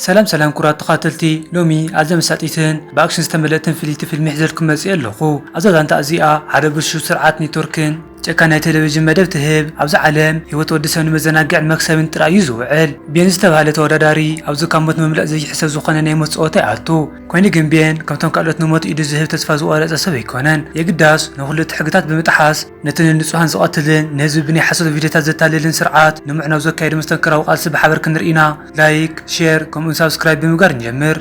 ሰላም ሰላም ኩራት ተኻተልቲ ሎሚ ኣዝያ መሳጢትን ብኣክሽን ዝተመልእትን ፍልይቲ ፊልሚ ሒዘልኩም መጺኤ ኣለኹ ኣብዛ ዛንታ እዚኣ ሓደ ብልሹው ስርዓት ኔትወርክን ጨካን ናይ ቴሌቪዥን መደብ ትህብ ኣብዛ ዓለም ሂወት ወዲ ሰብ ንመዘናግዕን መክሰብን ጥራይ እዩ ዝውዕል ቤን ዝተባህለ ተወዳዳሪ ኣብዚ ካብ ሞት ምምለጥ ዘይሕሰብ ዝኾነ ናይ ሞት ጸወታ ይኣቱ ኮይኑ ግን ቤን ከምቶም ካልኦት ንሞት ኢዱ ዝህብ ተስፋ ዝቖረጸ ሰብ ኣይኮነን የግዳስ ንኹሉ እቲ ሕግታት ብምጥሓስ ነቲ ንንጹሃን ዝቐትልን ንህዝቢ ብናይ ሓሶት ቪድዮታት ዘታልልን ስርዓት ንምዕናው ዘካይዶ መስተንክራዊ ቃልሲ ብሓበር ክንርኢ ኢና። ላይክ፣ ሼር ከምኡውን ሳብስክራይብ ብምግባር ንጀምር።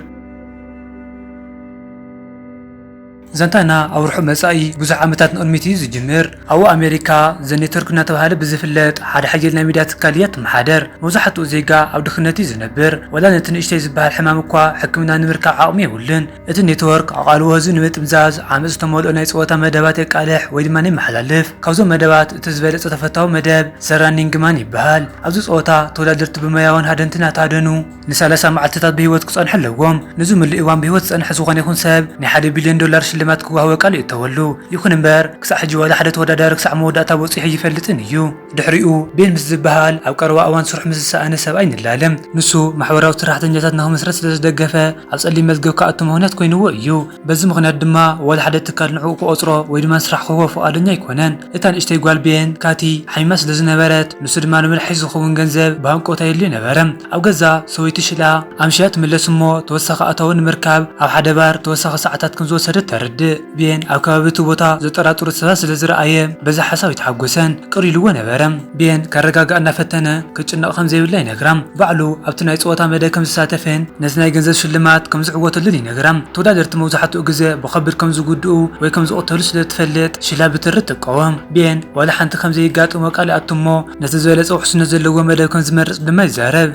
ዛንታና ኣብ ርሑቕ መጻኢ ብዙሕ ዓመታት ንቕድሚት እዩ ዝጅምር። ኣብኡ ኣሜሪካ ዘኔትወርክ እናተባህለ ብዝፍለጥ ሓደ ሓያል ናይ ሚድያ ትካል እያ ትመሓደር። መብዛሕትኡ ዜጋ ኣብ ድኽነት እዩ ዝነብር፣ ዋላ ነቲ ንእሽተይ ዝበሃል ሕማም እኳ ሕክምና ንምርካብ ዓቕሚ የብሉን። እቲ ኔትወርክ ኣቓልቦ ህዝቢ ንምጥምዛዝ፣ ዓመጽ ዝተመልኦ ናይ ጸወታ መደባት የቃልሕ ወይ ድማ የመሓላልፍ። ካብዞም መደባት እቲ ዝበለጸ ተፈታዊ መደብ ዘ ራኒንግ ማን ይበሃል። ኣብዚ ጸወታ ተወዳደርቲ ብሞያውን ሃደንትን እናተሃደኑ ንሳላሳ መዓልቲታት ብህይወት ክጸንሑ ኣለዎም። ንዝምሉእ እዋን ብህይወት ዝጸንሐ ዝኾነ ይኹን ሰብ ናይ ሓደ ቢልዮን ዶላር ሽልማት ክወሃቦ ቃል ይእተወሉ። ይኹን እምበር ክሳዕ ሕጂ ዋላ ሓደ ተወዳዳሪ ክሳዕ መወዳእታ በጺሑ ኣይፈልጥን እዩ። ድሕሪኡ ቤን ምስ ዝበሃል ኣብ ቀረባ እዋን ስርሑ ምስ ዝሰኣነ ሰብኣይ ንላለ። ንሱ ማሕበራዊ ሰራሕተኛታት ንኽምስርት ስለ ዝደገፈ ኣብ ጸሊም መዝገብ ክኣቱ ምኽንያት ኮይንዎ እዩ። በዚ ምኽንያት ድማ ዋላ ሓደ ትካል ንዕኡ ክቖጽሮ ወይ ድማ ንስራሕ ክህቦ ፍቓደኛ ኣይኮነን። እታ ንእሽተይ ጓል ቤን፣ ካቲ፣ ሓሚማ ስለ ዝነበረት ንሱ ድማ ንመድሓኒት ዝኸውን ገንዘብ ብሃንቀውታ የድልዮ ነበረ። ኣብ ገዛ ሰበይቱ ሽላ ኣምሽያ ትምለስ እሞ ተወሳኺ ኣታዊ ንምርካብ ኣብ ሓደ ባር ተወሳኺ ሰዓታት ከም ዝወሰደት ተረድእ። ቤን ኣብ ከባቢ እቲ ቦታ ዘጠራጥሩ ሰባት ስለ ዝረኣየ በዚ ሓሳብ ኣይተሓጐሰን፣ ቅር ኢሉዎ ነበረ። ቤን ከረጋግኣ እናፈተነ ክትጭነቕ ከም ዘይብላ ይነግራ። ባዕሉ ኣብቲ ናይ ጸወታ መደብ ከም ዝሳተፍን ነቲ ናይ ገንዘብ ሽልማት ከም ዝዕወተሉን ይነግራ። ተወዳደርቲ መብዛሕትኡ ግዘ ብኸቢድ ከም ዝጉድኡ ወይ ከም ዝቕተሉ ስለ እትፈልጥ ሽላ ብትሪ ትቃወም። ቤን ዋላ ሓንቲ ከም ዘይጋጥሞ ቃል ይኣቱ እሞ ነቲ ዝበለጸ ውሕስነት ዘለዎ መደብ ከም ዝመርጽ ድማ ይዛረብ።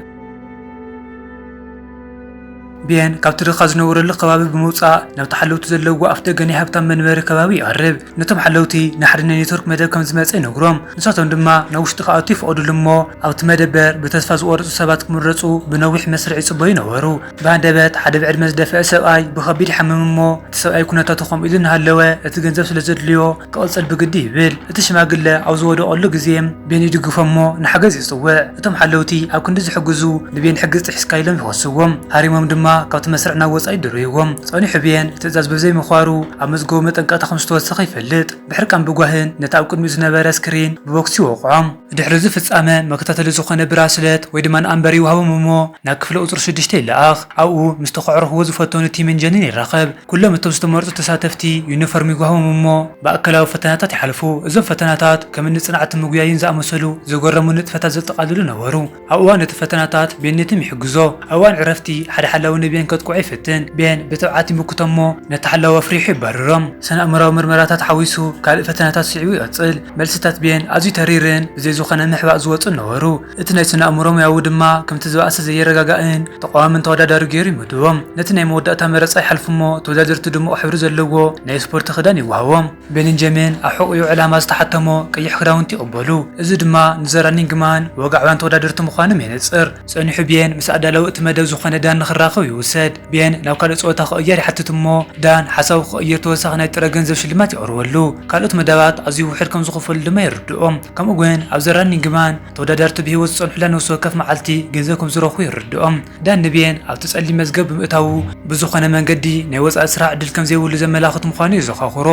ቤን ካብቲ ድኻ ዝነበረሉ ከባቢ ብምውጻእ ናብቲ ሓለውቲ ዘለውዎ ኣፍደገ ናይ ሃብታም መንበሪ ከባቢ ይቐርብ። ነቶም ሓለውቲ ንሓደ ናይ ኔትወርክ መደብ ከም ዝመጸ ይነግሮም፣ ንሳቶም ድማ ናብ ውሽጢ ክኣቱ ይፍቐዱሉ እሞ ኣብቲ መደበር ብተስፋ ዝቖረጹ ሰባት ክምረጹ ብነዊሕ መስርዕ ይጽበዩ ነበሩ። ብሃንደበት ሓደ ብዕድመ ዝደፍአ ሰብኣይ ብኸቢድ ይሓምም እሞ እቲ ሰብኣይ ኩነታቱ ከምኡ ኢሉ እናሃለወ እቲ ገንዘብ ስለ ዘድልዮ ክቕጽል ብግዲ ይብል። እቲ ሽማግለ ኣብ ዝወደቐሉ ግዜ ቤን ይድግፎ እሞ ንሓገዝ ይጽውዕ። እቶም ሓለውቲ ኣብ ክንዲ ዝሕግዙ ንብየን ሕጊ ጥሒስካ ኢሎም ይኸስዎም። ሃሪሞም ድማ ካብቲ መስርዕ ናብ ወጻኢ ይድርብይዎም። ጸኒሑ ብየን ትእዛዝ ብዘይምኽባሩ ኣብ መዝገቡ መጠንቀቕታ ከም ዝተወሰኸ ይፈልጥ። ብሕርቃን ብጓህን ነቲ ኣብ ቅድሚኡ ዝነበረ ስክሪን ብቦክሲ ይወቕዖ። ድሕሪ እዚ ፍጻመ መከታተሊ ዝኾነ ብራስለት ወይ ድማ ንኣምበር ይውሃቦም እሞ ናብ ክፍለ ቁጽሪ ሽዱሽተ ይለኣኽ። ኣብኡ ምስቲ ከዕርኹዎ ዝፈተኑ ቲምን ጀንን ይራኸብ። ኩሎም እቶም ዝተመርጹ ተሳተፍቲ ዩኒፎርም ይጓህሞም እሞ ማእከላዊ ፈተናታት ይሓልፉ። እዞም ፈተናታት ከም እኒ ጽንዓትን ምጉያይን ዝኣመሰሉ ዘገረሙ ንጥፈታት ዘጠቓልሉ ነበሩ። ኣብ እዋን እቲ ፈተናታት ቤን ንቲም ይሕግዞ። ኣብ እዋን ዕረፍቲ ሓደ ሓላዊ ንቤን ከጥቅዖ ይፍትን። ቤን ብትብዓት ይምክቶ እሞ ነቲ ሓላዊ ኣፍሪሑ የባርሮም። ስነ-ኣእምሮኣዊ ምርመራታት ሓዊሱ ካልእ ፈተናታት ስዒቡ ይቕጽል። መልስታት ቤን ኣዝዩ ተሪርን ብዘይ ዝኾነ ምሕባእ ዝወጹን ነበሩ። እቲ ናይ ስነ-ኣእምሮ ሙያዊ ድማ ከምቲ ዝበኣሰ ዘየረጋጋእን ተቓዋምን ተወዳዳሪ ገይሩ ይመድቦም። ነቲ ናይ መወዳእታ መረጻ ይሓልፉ'ሞ ተወዳደርቲ ድሙቕ ሕብሪ ዘለዎ ናይ ስፖርቲ ክዳን ይወሃቦም። ቤሊንጀምን ኣብ ሕቖኡ ዕላማ ዝተሓተሞ ቀይሕ ክዳውንቲ ይቕበሉ፣ እዚ ድማ ንዘራኒን ግማን ወግዓውያን ተወዳደርቲ ምዃኖም የነጽር። ጸኒሑ ቤን ምስ ኣዳላዊ እቲ መደብ ዝኾነ ዳኒ ክራኸብ ይውሰድ። ቤን ናብ ካልእ ጸወታ ክቕየር ይሓትት እሞ ዳን ሓሳቡ ክቕይር ተወሳኺ ናይ ጥረ ገንዘብ ሽልማት የቕርበሉ። ካልኦት መዳባት ኣዝዩ ውሑድ ከም ዝኽፈሉ ድማ የርድኦ። ከምኡ ግን ኣብ ዘ ራኒንግ ማን ተወዳዳርቲ ብህይወት ዝጸንሑላ ነፍሲ ወከፍ መዓልቲ ገንዘብ ከም ዝረኽቡ የርድኦ። ዳን ንቤን ኣብቲ ጸሊም መዝገብ ብምእታዉ ብዝኾነ መንገዲ ናይ ወጻኢ ስራሕ ዕድል ከም ዘይብሉ ዘመላኽት ምዃኑ የዘኻኽሮ።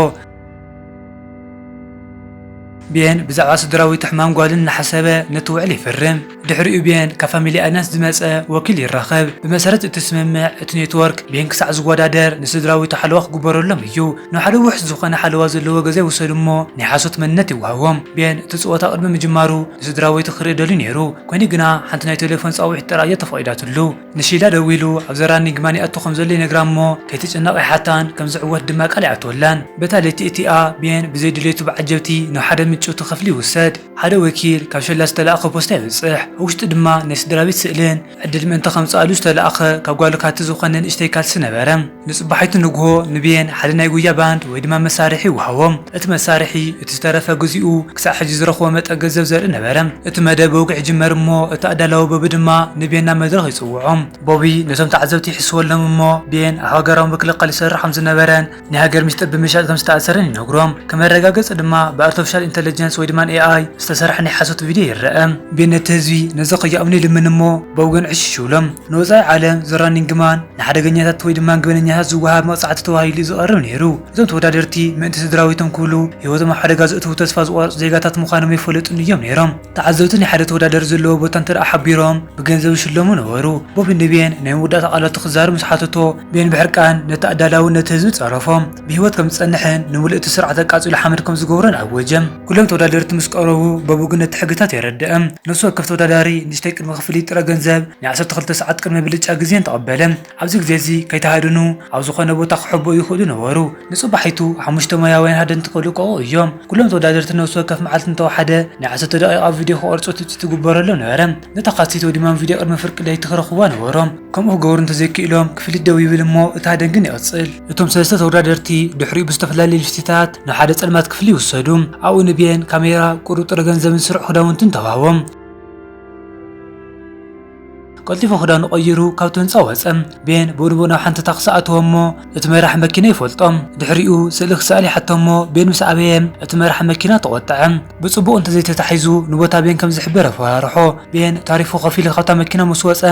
ቤን ብዛዕባ ስድራዊት ሕማም ጓሉ እናሓሰበ ነቲ ውዕል ይፍርም። ድሕሪኡ ቤን ካብ ፋሚሊ ኣዳንስ ዝመጸ ወኪል ይራኸብ። ብመሰረት እቲ ስምምዕ፣ እቲ ኔትወርክ ቤን ክሳዕ ዝወዳደር ንስድራዊቱ ሓለዋ ክግበረሎም እዩ። ናብ ሓደ ውሑስ ዝኾነ ሓለዋ ዘለዎ ገዛ ይውሰዱ እሞ ናይ ሓሶት መንነት ይወሃቦም። ቤን እቲ ጸወታ ቅድሚ ምጅማሩ ንስድራዊቱ ክርኢ ደልዩ ነይሩ፣ ኮይኑ ግና ሓንቲ ናይ ቴሌፎን ጻውዒት ጥራይ እያ ተፈቒዳትሉ። ንሺላ ደዊሉ ኣብ ዘራ ኒግማን ይኣቱ ከም ዘሎ ይነግራ እሞ ከይትጭነቕ ይሓታን ከም ዝዕወት ድማ ቃል ይኣትወላን። በታ ለይቲ እቲኣ ቤን ብዘይ ድሌቱ ብዓጀብቲ ናብ ሓደ ምጭውቲ ክፍሊ ይውሰድ። ሓደ ወኪል ካብ ሸላ ዝተላእከ ፖስታ የብጽሕ። ኣብ ውሽጡ ድማ ናይ ስድራቤት ስእልን ዕድል ምእንቲ ከምጽኣሉ ዝተላእከ ካብ ጓሉ ካቲ ዝኾነ ንእሽተይ ካልሲ ነበረ። ንጽባሒቱ ንግሆ ንብየን ሓደ ናይ ጉያ ባንድ ወይ ድማ መሳርሒ ወሃቦም። እቲ መሳርሒ እቲ ዝተረፈ ግዚኡ ክሳዕ ሕጂ ዝረኽቦ መጠን ገንዘብ ዘርኢ ነበረ። እቲ መደብ ብወግዒ ይጅመር እሞ እቲ ኣዳላዊ ቦቢ ድማ ንብየን ናብ መድረኽ ይጽውዖም። ቦቢ ነቶም ተዓዘብቲ ይሕስወሎም እሞ ብየን ኣብ ሃገራዊ ምክልኻል ይሰርሕ ከም ዝነበረን ናይ ሃገር ሚስጥር ብምሻጥ ከም ዝተኣሰረን ይነግሮም። ከም መረጋገጺ ድማ ብኣርተፍሻል ኢንተለጀንስ ወይ ድማ AI ዝተሰርሐ ናይ ሓሶት ቪድዮ ይረኣ። ብየን ነቲ ህዝቢ ነዚ ከይኣምኑ ይልምን እሞ ቦቢ ግን ዕሽሽ ይብሎም። ንወጻኢ ዓለም ዘራኒንግ ማን ንሓደገኛታት ወይ ድማ ገበነኛታት ዝወሃብ መቕጻዕቲ ተባሂሉ'ዩ ዝቐርብ ነይሩ። እዞም ተወዳደርቲ ምእንቲ ስድራቤቶም ክብሉ ህይወቶም ኣብ ሓደጋ ዘእትዉ ተስፋ ዝቖረጹ ዜጋታት ምዃኖም ኣይፈለጡን እዮም ነይሮም። ተዓዘብቲ ናይ ሓደ ተወዳዳሪ ዘለዎ ቦታ እንተደኣ ሓቢሮም ብገንዘብ ይሽለሙ ነበሩ። ቦቢ ንቤን ናይ መወዳእታ ቃላቱ ክዛረብ ምስ ሓተቶ፣ ቤን ብሕርቃን ነቲ ኣዳላዊ ነቲ ህዝቢ ጸረፎ። ብህይወት ከም ዝጸንሕን ንምሉእ'ቲ ስርዓት ኣቃጺሉ ሓመድ ከም ዝገብሮን ኣወጀ። ኩሎም ተወዳደርቲ ምስ ቀረቡ በቡግን ነቲ ሕግታት የረድእ። ነፍሲ ወከፍ ተወዳዳሪ ንእሽተይ ቅድመ ክፍሊት ጥረ ገንዘብ ናይ ዓሰርተ ክልተ ሰዓት ቅድመ ብልጫ ግዜን ተቐበለ። ኣብዚ ግዜ እዚ ከይተሃድኑ ኣብ ዝኾነ ቦታ ክሕበኡ ይኽእሉ ነበሩ። ንጽባሒቱ ሓሙሽተ ሞያውያን ሃደንቲ ክልቀቑ እዮም። ኩሎም ተወዳደርቲ ነፍሲ ወከፍ መዓልቲ እንተወሓደ ናይ ዓሰርተ ደቒቓ ቪድዮ ክቐርጹ ትጽቢት ይግበረሎም ነበረ። ነታ ካሴት ወይ ድማ ቪድዮ ቅድሚ ፍርቂ ለይቲ ክረኽቡዋ ነበሮም። ከምኡ ክገብሩ እንተዘይክኢሎም ክፍሊት ደው ይብል እሞ እቲ ሃደን ግን ይቕጽል። እቶም ሰለስተ ተወዳደርቲ ድሕሪኡ ብዝተፈላለየ ልፍቲታት ንሓደ ጸልማት ክፍሊ ወሰዱ። ኣብኡ ንብየን ካሜራ፣ ቁሩብ ጥረ ገንዘብን ስሩዕ ክዳውንትን ተዋህቦም። ቀልጢፉ ክዳኑ ቀይሩ ካብቲ ህንፃ ወፀ። ቤን ብኡንብኡ ናብ ሓንቲ ታክሲ ኣተወ እሞ እቲ መራሒ መኪና ይፈልጦ። ድሕሪኡ ስእሊ ክሰኣል ይሓቶ እሞ ቤን ምስ ኣበየ እቲ መራሒ መኪና ተቖጠዐ። ብፅቡቕ እንተዘይተታሒዙ ንቦታ ቤን ከም ዝሕበር ኣፈራርሖ። ቤን ታሪፉ ከፊሉ ካብታ መኪና ምስ ወፀ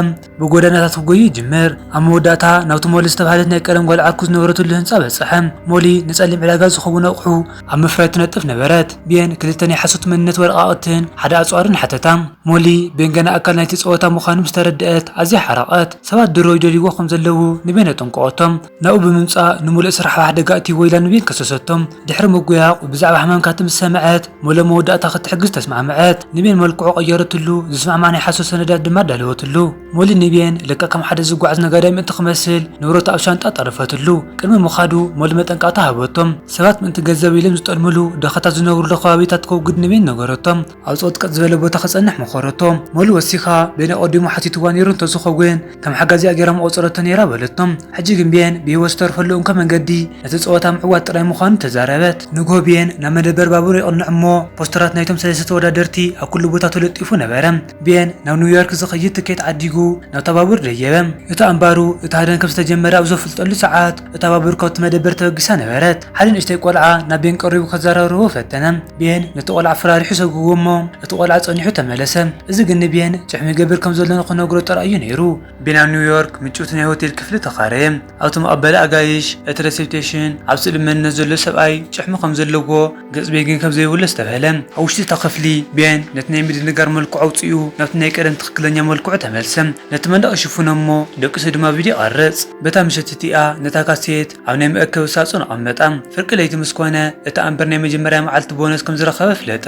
ብጎደናታት ክጎዩ ይጅምር። ኣብ መወዳእታ ናብቲ ሞሊ ዝተባህለት ናይ ቀደም ጓል ዓርኩ ዝነበረትሉ ህንጻ በጽሐ። ሞሊ ንጸሊም ዕዳጋ ዝኸውን ኣቑሑ ኣብ ምፍራይ ትነጥፍ ነበረት። ቤን ክልተ ናይ ሓሶት መንነት ወረቓቕትን ሓደ ኣጽዋርን ሓተታ። ሞሊ፣ ቤን ገና ኣካል ናይቲ ጸወታ ምዃኑ ምስ ተረድኣት ኣዝያ ሓረቐት። ሰባት ድሮ ይደልይዎ ከም ዘለዉ ንቤን ኣጠንቀቐቶ። ናብኡ ብምምጻእ ንምሉእ ስራሕ ኣብ ሓደጋ ኣእትይዎ ኢላ ንቢል ከሰሰቶ። ድሕሪ ምጕያቝ፣ ብዛዕባ ሕማምካ ትም ዝሰምዐት ሞለ መወዳእታ ኽትሕግዝ ተስማዕምዐት። ንቤን መልክዑ ቐየረትሉ፣ ዝስማዕማዕ ናይ ሓሶት ሰነዳት ድማ ኣዳለወትሉ። ሞሊ ንቤን ልክዕ ከም ሓደ ዝጓዓዝ ነጋዳይ ምእንቲ ክመስል ንብረቱ ኣብ ሻንጣ ጠረፈትሉ። ቅድሚ ምኻዱ ሞሊ መጠንቀቕታ ሃበቶ። ሰባት ምእንቲ ገንዘብ ኢሎም ዝጠልምሉ፣ ድኻታት ዝነብሩሉ ኸባቢታት ከውግድ ንቤን ነገረቶ። ኣብ ጸጥቅጥ ዝበለ ቦታ ክጸንሕ መኸረቶ። መሉ ወሲኻ፣ ቤን ኣቐዲሙ ሓቲትዋ ነይሩ እንተ ዝኸውን፣ ከም ሓጋዚኣ ገይራ ምቖጸረቶ ነይራ በለቶ። ሕጂ ግን ቤን ብህይወት ዝተርፈሉ እንኮ መንገዲ ነቲ ጸወታ ምዕዋት ጥራይ ምዃኑ ተዛረበት። ንግሆ ቤን ናብ መደበር ባቡር የቕንዕ እሞ ፖስተራት ናይቶም ሰለስተ ተወዳደርቲ ኣብ ኩሉ ቦታ ተለጢፉ ነበረ። ቤን ናብ ኒውዮርክ ዝኸይድ ትኬት ዓዲጉ ናብታ ባቡር ደየበ። እቲ ኣንባሩ እቲ ሃደን ከም ዝተጀመረ ኣብ ዘፍልጠሉ ሰዓት፣ እታ ባቡር ካብቲ መደበር ተበጊሳ ነበረት። ሓደ ንእሽተይ ቆልዓ ናብ ቤን ቀሪቡ ከዘራርቦ ፈተነ። ቤን ነቲ ቆልዓ ኣፈራሪሑ ሰጉግዎ እሞ እቲ ቆልዓ ጸኒሑ ተመለሰ። እዚ ግን ንቤን ጭሕሚ ይገብር ከም ዘሎ ንኽነግሮ ጥራይ እዩ ነይሩ። ቤን ኣብ ኒውዮርክ ምጭውቲ ናይ ሆቴል ክፍሊ ተኻረየ። ኣብቲ መቐበሊ ኣጋይሽ፣ እቲ ረሴፕቴሽን፣ ኣብ ስእሊ መንነት ዘሎ ሰብኣይ ጭሕሚ ከም ዘለዎ ገጽ ቤን ግን ከም ዘይብሉ ኣስተብህለ። ኣብ ውሽጢ እታ ክፍሊ፣ ቤን ነቲ ናይ ምድንጋር መልክዑ ኣውጺኡ ናብቲ ናይ ቀደም ትኽክለኛ መልክዑ ተመልሰ። ነቲ መንደቕ ይሽፍኖ እሞ ደቂሱ ድማ ቪድዮ ይቐርጽ። በታ ምሸት እቲኣ ነታ ካሴት ኣብ ናይ መእከቢ ሳጹን ኣቐመጣ። ፍርቂ ለይቲ ምስ ኮነ፣ እቲ ኣምበር ናይ መጀመርያ መዓልቲ ቦነስ ከም ዝረኸበ ኣፍለጠ።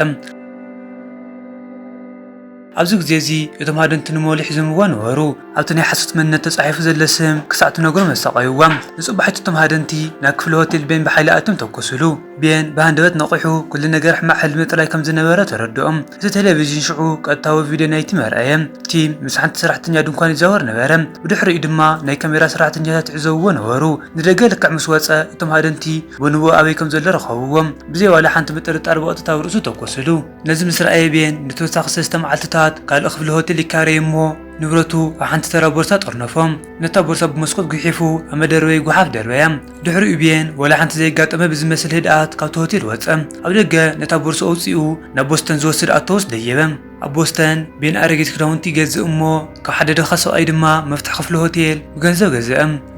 ኣብዚ ግዜ እዚ እቶም ሃደንቲ ንሞ ልሒዞምዋ ነበሩ። ኣብቲ ናይ ሓሶት መንነት ተጻሒፉ ዘለ ስም ክሳዕ ትነግሮም ኣሳቐዩዎም። ንጽባሒቱ እቶም ሃደንቲ ናብ ክፍሊ ሆቴል ቤን ብሓይሊ ኣትዮም ተኮሱሉ። ቤን ብሃንደበት ነቒሑ ኩሉ ነገር ሕማቕ ሕልሚ ጥራይ ከም ዝነበረ ተረድኦም። እቲ ቴሌቪዥን ሽዑ ቀጥታዊ ቪድዮ ናይቲ ም ኣርኣየ። ቲም ምስ ሓንቲ ሰራሕተኛ ድንኳን ይዛወር ነበረ። ብድሕሪኡ ድማ ናይ ካሜራ ሰራሕተኛታት ይዕዘብዎ ነበሩ። ንደገ ልክዕ ምስ ወጸ እቶም ሃደንቲ ቦንቦ ኣበይ ከም ዘሎ ረኸብዎ። ብዘይ ዋላ ሓንቲ ምጥርጣር ብቐጥታ ኣብ ርእሱ ተኮሱሉ። ነዚ ምስ ረኣየ ቤን ንተወሳኺ ሰለስተ መዓልትታት ካልእ ክፍሊ ሆቴል ይካረይ እሞ ንብረቱ ኣብ ሓንቲ ተራ ቦርሳ ጠርነፎም። ነታ ቦርሳ ብመስኮት ጒሒፉ ኣብ መደርበዪ ጓሓፍ ደርበያ። ድሕሪኡ ቤን ወላ ሓንቲ ዘይጋጠመ ብዝመስል ህድኣት ካብቲ ሆቴል ወጸ። ኣብ ደገ ነታ ቦርሳ ኣውጺኡ ናብ ቦስተን ዝወስድ ኣውቶቡስ ደየበ። ኣብ ቦስተን ቤን ኣረጊት ክዳውንቲ ይገዝእ እሞ፣ ካብ ሓደ ድኻ ሰብኣይ ድማ መፍትሕ ክፍሊ ሆቴል ብገንዘብ ገዘ።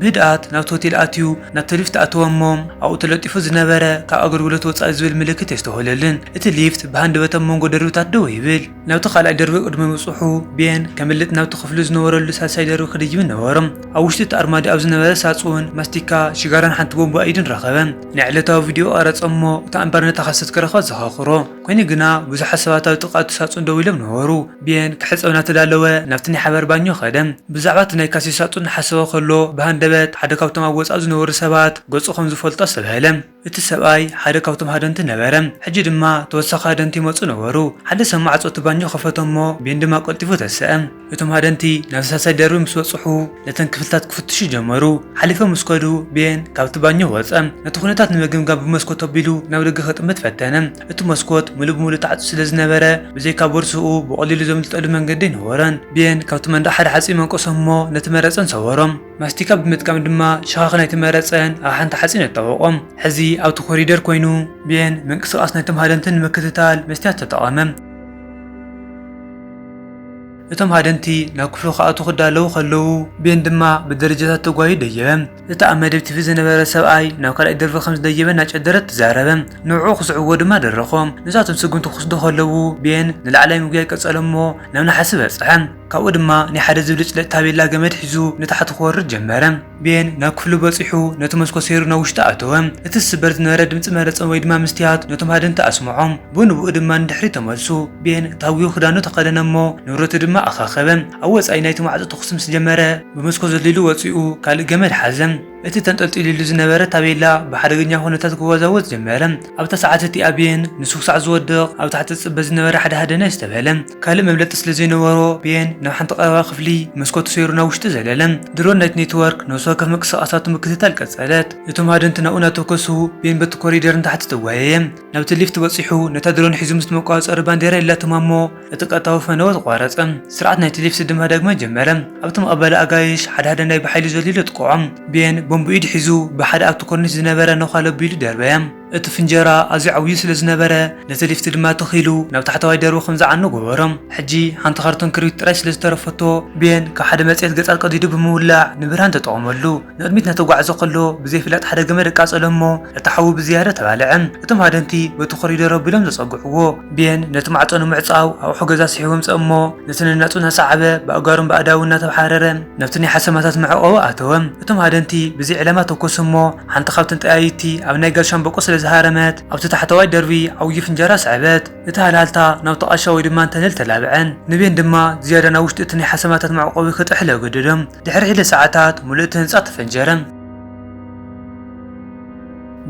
ብህድኣት ናብቲ ሆቴል ኣትዩ ናብቲ ሊፍት ኣተወ እሞ ኣብኡ ተለጢፉ ዝነበረ ካብ ኣገልግሎት ወጻኢ ዝብል ምልክት የስተውህለልን እቲ ሊፍት ብሃንደበት ኣብ መንጎ ደርብታት ደወ ይብል። ናብቲ ካልኣይ ደርቢ ቅድሚ ምብጽሑ ቤን ከምልጥ ናብቲ ክፍሉ ዝነበረሉ ሳልሳይ ደርቢ ክድይብ ነበሮ። ኣብ ውሽጢ እቲ ኣርማድዮ ኣብ ዝነበረ ሳጹን ማስቲካ፣ ሽጋራን ሓንቲ ቦምባ ኢድን ረኸበ። ናይ ዕለታዊ ቪድዮኡ ቀረጸ እሞ እታ እምበር ነታ ካሰት ክረኽባ ዘኻኽሮ። ኮይኑ ግና ብዙሓት ሰባት ኣብ ጥቓ እቲ ሳጹን ደው ኢሎም ነበሩ። ብየን ክሕጸብ እናተዳለወ ናብቲ ናይ ሓባር ባኞ ከደ። ብዛዕባ እቲ ናይ ካሴት ሳጹን እናሓሰበ ከሎ ብሃንደበት ሓደ ካብቶም ኣብ ወጻኢ ዝነበሩ ሰባት ገጹ ከም ዝፈልጦ ኣስተብሃለ። እቲ ሰብኣይ ሓደ ካብቶም ሃደንቲ ነበረ። ሕጂ ድማ ተወሳኺ ሃደንቲ ይመጹ ነበሩ። ሓደ ሰብ ማዕጾ እቲ ባኞ ከፈተ እሞ ብየን ድማ ቀልጢፉ ተሰኣ። እቶም ሃደንቲ ናብ ሳልሳይ ደርቢ ምስ በጽሑ ነተን ክፍልታት ክፍትሹ ጀመሩ። ሓሊፎም ምስ ከዱ ቤን ካብቲ ባኞ ወጸ። ነቲ ኵነታት ንምግምጋም ብመስኮት ኣቢሉ ናብ ደገ ክጥምት ፈተነ። እቲ መስኮት ምሉእ ብምሉእ ተዓጽዩ ስለ ዝነበረ ብዘይካ ቦርሳኡ ብቐሊሉ ዘምልጠሉ መንገዲ ኣይነበሮን። ቤን ካብቲ መንደቕ ሓደ ሓጺን መንቀሶ እሞ ነቲ መረጸን ሰበሮ። ማስቲካ ብምጥቃም ድማ ሸኻኽ ናይቲ መረጸን ኣብ ሓንቲ ሓጺን ኣጣበቖ። ሕዚ ኣብቲ ኮሪደር ኰይኑ ቤን ምንቅስቓስ ናይቶም ሃደንቲ ንምክትታል መስትያት ተጠቐመ። እቶም ሃደንቲ ናብ ክፍሉ ክኣትዉ ክዳለዉ ከለዉ፣ ቤን ድማ ብደረጃታት ተጓዩ ደየበ። እቲ ኣብ መደብ ቲቪ ዝነበረ ሰብኣይ ናብ ካልኣይ ደርቢ ከም ዝደየበ እናጨደረ ተዛረበ፣ ንዕኡ ክስዕብዎ ድማ ደረኾ። ንሳቶም ስጕምቲ ክወስዱ ከለዉ፣ ቤን ንላዕላይ ምጕያይ ቀጸለ እሞ ናብ ነሓሲ በጽሐ። ካብኡ ድማ ናይ ሓደ ዝብልጭልጭ ታቤላ ገመድ ሒዙ ንታሕቲ ክወርድ ጀመረ። ቤን ናብ ክፍሉ በጺሑ ነቲ መስኮት ሰይሩ ናብ ውሽጢ ኣተወ። እቲ ዝስበር ዝነበረ ድምጺ መረጸም ወይ ድማ ምስትያት ነቶም ሃደንቲ ኣስምዖም። ብኡንብኡ ድማ ንድሕሪት ተመልሱ። ቤን ታጒ ክዳኑ ተኸደነ እሞ ንብረቱ ድማ ኣኻኸበ። ኣብ ወጻኢ ናይቲ ማዕጾ ተኹሲ ምስ ጀመረ ብመስኮት ዘሊሉ ወጺኡ ካልእ ገመድ ሓዘ። እቲ ተንጠልጢሉሉ ዝነበረ ታቤላ ብሓደገኛ ኩነታት ክወዛወዝ ጀመረ። ኣብታ ሰዓት እቲኣ ቤን ንሱ ክሳዕ ዝወድቕ ኣብ ታሕቲ ዝጽበ ዝነበረ ሓደ ሃደነ ኣስተብሀለ። ካልእ መብለጢ ስለ ዘይነበሮ ቤን ናብ ሓንቲ ቀረባ ክፍሊ ብመስኮት ሰይሩ ናብ ውሽጢ ዘለለ። ድሮን ናይቲ ኔትወርክ ነፍሲ ወከፍ ምንቅስቓሳቱ ምክትታል ቀጸለት። እቶም ሃደንቲ ናብኡ እናተወከሱ ቤን በቲ ኮሪደር ንታሕቲ ተጓየየ። ናብቲ ሊፍት በጺሑ ነታ ድሮን ሒዙ ምስቲ መቆጻጸሪ ባንዴራ የላተማ እሞ እቲ ቀጥታዊ ፈነወ ተቋረጸ። ስርዓት ናይ ቴሌፍሲ ድማ ዳግመ ጀመረ። ኣብቲ መቐበሊ ኣጋይሽ ሓደ ሓደ ናይ ብሓይሊ ዘልዩሉ ኣጥቅዖም። ቤን ቦምብ ኢዱ ሒዙ ብሓደ ኣብቲ ኮርኒስ ዝነበረ ነዃ ለብ ኢሉ ደርበየ። እቲ ፍንጀራ ኣዝዩ ዓብዩ ስለ ዝነበረ ነቲ ሊፍት ድማ ትኽ ኢሉ ናብ ታሕተዋይ ደርቢ ከም ዝዓኑ ገበሮ። ሕጂ ሓንቲ ካርቶን ክርቢት ጥራይ ስለ ዝተረፈቶ ቤን ካብ ሓደ መጽሔት ገጻት ቀዲዱ ብምውላዕ ንብርሃን ተጠቐመሉ። ንቕድሚት እናተጓዕዘ ከሎ ብዘይፍለጥ ሓደ ገመድ ኣቃጸሎ እሞ እቲ ሓዊ ብዝያዳ ተባልዐ። እቶም ሃደንቲ በቲ ኮሪደር ኣቢሎም ዘጸግዕዎ ቤን ነቲ ማዕጾ ንምዕጻው ኣቑሑ ገዛ ስሒቡ ኣምጸ እሞ ነቲ ነናጹ እናሰዓበ ብኣእጋሩን ብኣእዳዉን እናተብሓረረ ናብቲ ናይ ሓሰማታት መዕቖቢ ኣተወ። እቶም ሃደንቲ ብዘይ ዕላማ ተኮሱ እሞ ሓንቲ ካብተን ጠያይቲ ኣብ ናይ ጋዝ ሻምበቆ ስለ ዝሃረመት ኣብቲ ታሕተዋይ ደርቢ ዓዉዪ ፍንጃራ ሰዐበት። እቲ ሃልሃልታ ናብቲ ቃሻ ወይ ድማ ንተለል ተላብዐ። ንቤን ድማ ዝያዳ ናብ ዉሽጢ እቲ ናይ ሓሰማታት መዕቖቢ ክጥሕል ኣገደዶ። ድሕሪ ሒደት ሰዓታት ምሉእ እቲ ህንጻ ተፈንጀረ።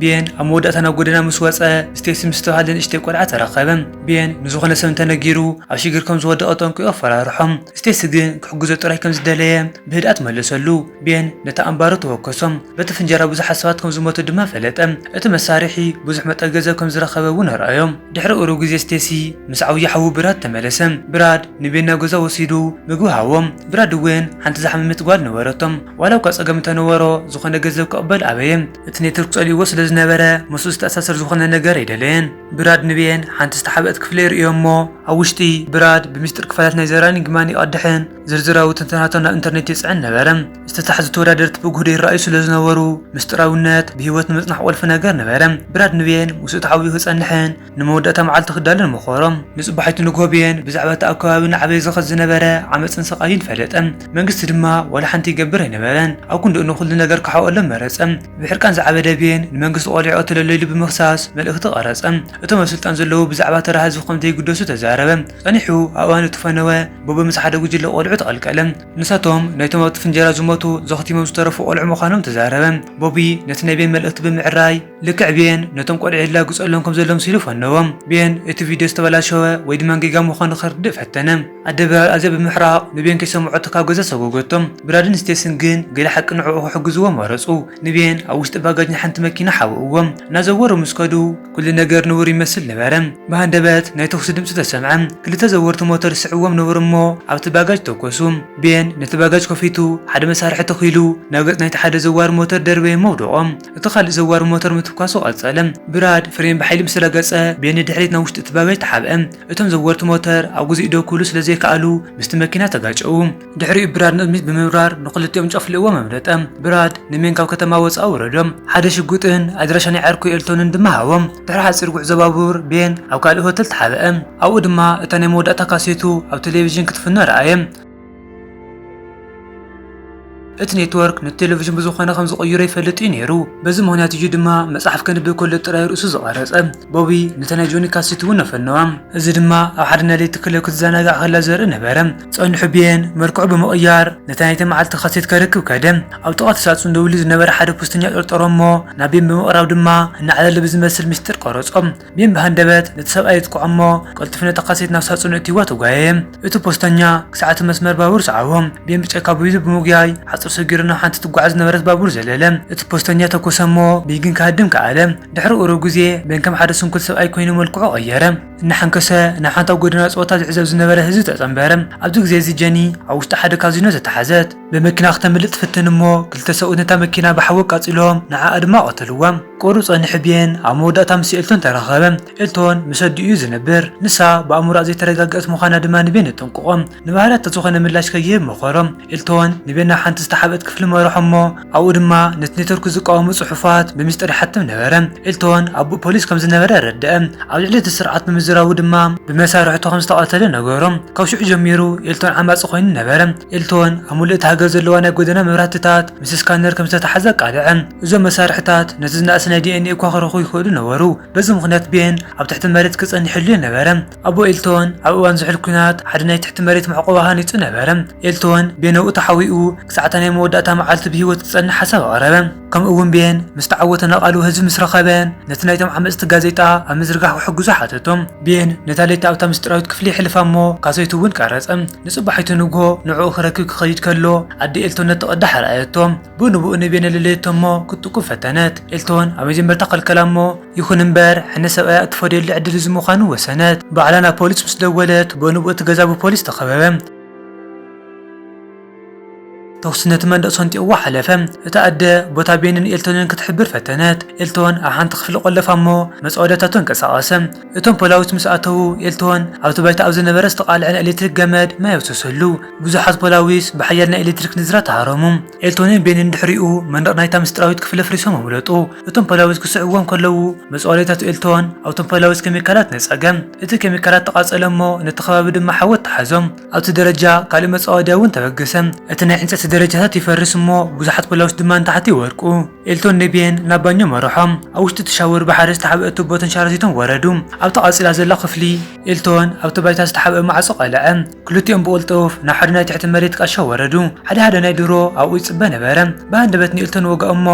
ቤን ኣብ መወዳእታ ናብ ጎደና ምስ ወጸ፣ ስቴሲ ምስ እትበሃል ንእሽተይ ቆልዓ ተራኸበ። ቤን ንዝኾነ ሰብ እንተነጊሩ ኣብ ሽግር ከም ዝወደቐ ጠንቂቑ ኣፈራርሖ። ስቴሲ ግን ክሕግዞ ጥራይ ከም ዝደለየ ብህድኣት መለሰሉ። ቤን ነቲ ኣምባሩ ተወከሶ፣ በቲ ፍንጀራ ብዙሓት ሰባት ከም ዝሞቱ ድማ ፈለጠ። እቲ መሳርሒ ብዙሕ መጠን ገንዘብ ከም ዝረኸበ እውን ኣርኣዮ። ድሕሪ ቁሩብ ግዜ ስቴሲ ምስ ዓብዩ ሓዉ ብራድ ተመለሰ። ብራድ ንቤን ናብ ገዛኡ ወሲዱ ምግቢ ሃቦም። ብራድ እዌን ሓንቲ ዝሓመመት ጓል ነበረቶም። ዋላ እኳ ጸገም እንተ ነበሮ ዝኾነ ገንዘብ ክቕበል ኣበየ። እቲ ኔትወርክ ጸሊእዎ ስለ ዝነበረ ምስኡ ዝተኣሳሰር ዝኾነ ነገር ኣይደለየን። ብራድ ንቤን ሓንቲ ዝተሓብእት ክፍሊ የርእዮ እሞ ኣብ ውሽጢ ብራድ ብሚስጢር ክፋላት ናይ ዘ ራኒንግ ማን ይቐድሕን፣ ዝርዝራዊ ትንተናታት ናብ ኢንተርኔት ይጽዕን ነበረ። ዝተታሕዙ ተወዳደርቲ ብጉህዶ ይረኣዩ ስለ ዝነበሩ ምስጢራዊነት ብህይወት ንምጽናሕ ቁልፊ ነገር ነበረ። ብራድ ንብየን ምስኡ ተሓቢኡ ክጸንሕን ንመወዳእታ መዓልቲ ክዳሎን መኸሮ። ንጽባሒቱ ንግሆ ብየን ብዛዕባ እቲ ኣብ ከባቢ እናዓበየ ዝኸድ ዝነበረ ዓመጽን ስቓይን ፈለጠ። መንግስቲ ድማ ዋላ ሓንቲ ይገብር ኣይነበረን። ኣብ ክንድኡ ንኹሉ ነገር ክሓብኦሎም መረጸ። ብሕርቃን ዝዓበደ ብየን ንመንግስቲ ቆሊዑ ቀትለሎ ኢሉ ብምኽሳስ መልእኽቲ ቀረጸ። እቶም ኣብ ስልጣን ዘለዉ ብዛዕባ ተራ ህዝቢ ከም ዘይግደሱ ተዛረበ። ጸኒሑ ኣብ እዋን እቲ ፈነወ ቡቢ ምስ ሓደ ጉጅለ ቆልዑ ተቐልቀለ። ንሳቶም ናይቶም ኣብቲ ፍንጀራ ዝሞቱ ዘኽቲሞም ዝተረፉ ቆልዑ ምዃኖም ተዛረበ። ቡቢ ነቲ ናይ ቤን መልእኽቲ ብምዕራይ ልክዕ ቤን ነቶም ቆልዑ የላግጸሎም ከም ዘሎ መሲሉ ፈነዎም። ቤን እቲ ቪድዮ ዝተበላሸወ ወይ ድማ ጌጋ ምዃኑ ከርድእ ፈተነ። ኣደ ብራድ ኣዝያ ብምሕራቕ ንቤን ከይሰምዖቶ ካብ ገዛ ሰጎገቶ። ብራድን ስቴስን ግን ገለ ሓቂ ንዕኡ ክሕግዝዎ መረጹ። ንቤን ኣብ ውሽጢ ባጋጅ ንሓንቲ መኪና ሓብእዎ። እናዘወሩ ምስ ከዱ፣ ኩሉ ነገር ንቡር ይመስል ነበረ። ብሃንደበት ናይ ተኹሲ ድምጺ ተሰምዐ። ክልተ ዘወርቲ ሞተር ዝስዕብዎም ነበሩ እሞ ኣብቲ ባጋጅ ተኮሱ። ቤን ነቲ ባጋጅ ከፊቱ ሓደ መሳርሒ ተኺሉ ናብ ገጽ ናይቲ ሓደ ዘዋሪ ሞተር ደርበየ እሞ ኣውደቖ። እቲ ካልእ ዘዋሪ ሞተር ምትኳሱ ቀጸለ። ብራድ ፍሬን ብሓይሊ ምስ ረገጸ ቤን ንድሕሪት ናብ ውሽጢ እቲ ባጋጅ ተሓብአ። እቶም ዘወርቲ ሞተር ኣብ ግዜኡ ደው ክብሉ ስለ ዘይከኣሉ ምስቲ መኪና ተጋጨዉ። ድሕሪኡ ብራድ ንቕድሚት ብምብራር ንኽልቲኦም ጨፍልእዎም ኣምለጠ። ብራድ ንሜን ካብ ከተማ ወጻኢ ወረዶም ሓደ ሽጉጥን ኣድራሻ ናይ ዓርኩ ኤልቶንን ድማ ሃቦም። ድሕሪ ሓጺር ጉዕዞ ባቡር ቤን ኣብ ካልእ ሆተል ተሓብአ። ኣብኡ ድማ እታ ናይ መወዳእታ ካሴቱ ኣብ ቴሌቪዥን ክትፍኖ ረኣየ። እቲ ኔትወርክ ነቲ ቴሌቪዥን ብዝኾነ ከም ዝቕይሮ ይፈልጥ እዩ ነይሩ። በዚ ምኽንያት እዩ ድማ መጽሓፍ ከንብብ ከሎ ጥራይ ርእሱ ዝቐረጸ። ቦቢ ነታ ናይ ጆኒ ካሴት እውን ኣፈነዋ። እዚ ድማ ኣብ ሓደ ናይ ለይቲ ክለብ ክትዘናጋዕ ከላ ዘርኢ ነበረ። ጸንሑ ቤን መልክዑ ብምቕያር ነቲ ናይቲ መዓልቲ ካሴት ከርክብ ከደ። ኣብ ጥቓ እቲ ሳጹን ደው ኢሉ ዝነበረ ሓደ ፖስተኛ ጠርጠሮ እሞ ናብ ቤን ብምቕራብ ድማ እናዕለለ ብዝመስል ምስጢር ቀረጾ። ቤን ብሃንደበት ነቲ ሰብኣይ የጥቅዖ እሞ ቀልጢፉ ነታ ካሴት ናብ ሳጹኑ ኣእትይዋ ተጓየየ። እቲ ፖስተኛ ክሳዕ እቲ መስመር ባቡር ሰዓቦ። ቤን ብጨካ ብይዙ ብምጉያይ ሓጹር ሰጊሩ ናብ ሓንቲ ትጓዓዝ ዝነበረት ባቡር ዘለለ። እቲ ፖስተኛ ተኮሰ እሞ ብይ ግን ክሃድም ከኣለ። ድሕሪ ቁሩብ ግዜ ቤን ከም ሓደ ስንኩል ሰብኣይ ኮይኑ መልክዑ ቀየረ። እናሓንከሰ ናብ ሓንታ ጎደና ጸወታ ዝዕዘብ ዝነበረ ህዝቢ ተጸንበረ። ኣብዚ ግዜ እዚ ጀኒ ኣብ ውሽጢ ሓደ ካዚኖ ተታሓዘት። ብመኪና ክተምልጥ ትፍትን እሞ ክልተ ሰብኡት ነታ መኪና ብሓዊ ኣቃጺሎም ንዓኣ ድማ ቀተልዋ። ቁሩብ ጸኒሑ ብየን ኣብ መወዳእታ ምስ ኤልቶን ተራኸበ። ኤልቶን ምስ ኣዲኡ እዩ ዝነብር። ንሳ ብኣእምሮኣ ዘይተረጋገኣት ምዃና ድማ ንቤን የጠንቅቖ። ንባህርያታ ዝኾነ ምላሽ ከይህብ መኸሮ። ኤልቶን ንቤን ናብ ሓንቲ ዝተሓብእት ክፍሊ መርሖ እሞ፣ ኣብኡ ድማ ነቲ ኔትወርክ ዝቃወሙ ጽሑፋት ብሚስጥር ይሓትም ነበረ። ኤልቶን ኣቦ ፖሊስ ከም ዝነበረ ኣረድኣ፣ ኣብ ልዕሊ እቲ ስርዓት ብምዝራቡ ድማ ብመሳርሕቱ ከም ዝተቐተለ ነገሮ። ካብ ሽዑ ጀሚሩ ኤልቶን ዓማጺ ኰይኑ ነበረ። ኤልቶን ኣብ ምሉእ እታ ሃገር ዘለዋ ናይ ጎደና መብራህትታት ምስ ስካነር ከም ዝተታሕዘ ኣቃልዐ። እዞም መሳርሕታት ነቲ ዝነኣሰ ናይ ዲኤንኤ እኳ ክረኽቡ ይኽእሉ ነበሩ፣ በዚ ምኽንያት ቤን ኣብ ትሕቲ መሬት ክጸንሕ የድልዮ ነበረ። ኣቦ ኤልቶን ኣብ እዋን ዝሑል ኲናት ሓደ ናይ ትሕቲ መሬት መዕቆቢ ሃኒጹ ነበረ። ኤልቶን ቤን ኣብኡ ተሓቢኡ ክሳዕ'ታ ናይ መወዳእታ መዓልቱ ብህይወት ክጸንሕ ሓሳብ ኣቕረበ። ከምኡ'ውን ቤን ምስ ተዓወተ ንቓሉ ህዝቢ ምስ ረኸበ ነቲ ናይቶም ዓመጽቲ ጋዜጣ ኣብ ምዝርጋሕ ክሕግዞ ሓተቶ። ቤን ነታ ለይቲ ኣብታ ምስጢራዊት ክፍሊ የሕልፋ እሞ ካሴቱ እውን ቀረጸ። ንጽባሒቱ ንግሆ ንዕኡ ክረክብ ክኸይድ ከሎ ኣደ ኤልቶን ነቲ ቅዳሕ ረኣየቶ። ብኡ ንብኡ ንቤነልልት እሞ ክትጥቁ ፈተነት። ኤልቶን ኣብ መጀመርታ ከልከላ እሞ ይኹን እምበር ሕነ ሰብኣያ እትፈድየሉ ዕድል እዚ ምዃኑ ወሰነት። ባዕላ ናብ ፖሊስ ምስ ደወለት ብኡ ንብኡ እቲ ገዛ ብፖሊስ ተኸበበ። ተኹሲ ነቲ መንደቕ ሰንጢቕዎ ሓለፈ። እታ ኣደ ቦታ ቤንን ኤልቶንን ክትሕብር ፈተነት። ኤልቶን ኣብ ሓንቲ ክፍሊ ቆለፋ እሞ መጻወድያታቱ ኣንቀሳቐሰ። እቶም ፖላዊስ ምስ ኣተዉ፣ ኤልቶን ኣብቲ ባይታ ኣብ ዝነበረ ዝተቓልዐ ናይ ኤለትሪክ ገመድ ማይ ኣፍሰሰሉ። ብዙሓት ፖላዊስ ብሓያል ናይ ኤለትሪክ ንዝራ ተሃረሙ። ኤልቶንን ቤንን ድሕሪኡ መንደቕ ናይታ ምስጢራዊት ክፍሊ ኣፍሪሶም ኣምለጡ። እቶም ፖላዊስ ክስዕብዎም ከለዉ፣ መጽዋዕዳይታት ኤልቶን ኣብቶም ፖላዊስ ኬሚካላት ነጸገ። እቲ ኬሚካላት ተቓጸለ እሞ ነቲ ከባቢ ድማ ሓዊ ኣተሓዞ። ኣብቲ ደረጃ ካልእ መጻወድያ እውን ተበገሰ። እቲ ናይ ዕንጸይቲ ደረጃታት ይፈርስ እሞ ብዙሓት ፖላውስ ድማ ንታሕቲ ይወድቁ። ኤልቶን ኔቢየን ናብ ባኞ መርሖም። ኣብ ውሽጢ እቲ ሻወር ብሓደ ዝተሓብአ ቱቦ ተንሸራቲቶም ወረዱ። ኣብታ ቀጺላ ዘላ ክፍሊ፣ ኤልቶን ኣብቲ ባይታ ዝተሓብአ ማዕጾ ቀልዐ። ክልቲኦም ብቕልጡፍ ናብ ሓደ ናይ ትሕቲ መሬት ቃሻ ወረዱ። ሓደ ሓደ ናይ ድሮ ኣብኡ ይጽበ ነበረ። ብሃንደበት ንኤልቶን ወግኦሞ፣